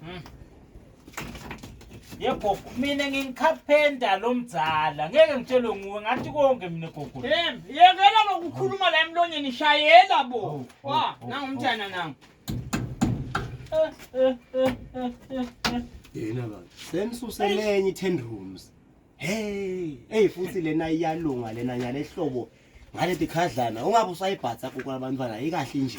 Hmm. Ye gogo, mina ngingicarpenter lo mdzala. Ngeke ngitshelwe nguwe ngathi konke mina gogo. Yem, yekela lokukhuluma la emlonyeni shayela bo. Oh, oh, Wa, oh, nangu umntana nangu. Yena baba, senisuselenye i-10 rooms. Hey, hey futhi lena iyalunga lena nyale hlobo ngale tikhadlana ungabe usayibhatha kuku labantwana ikahle nje.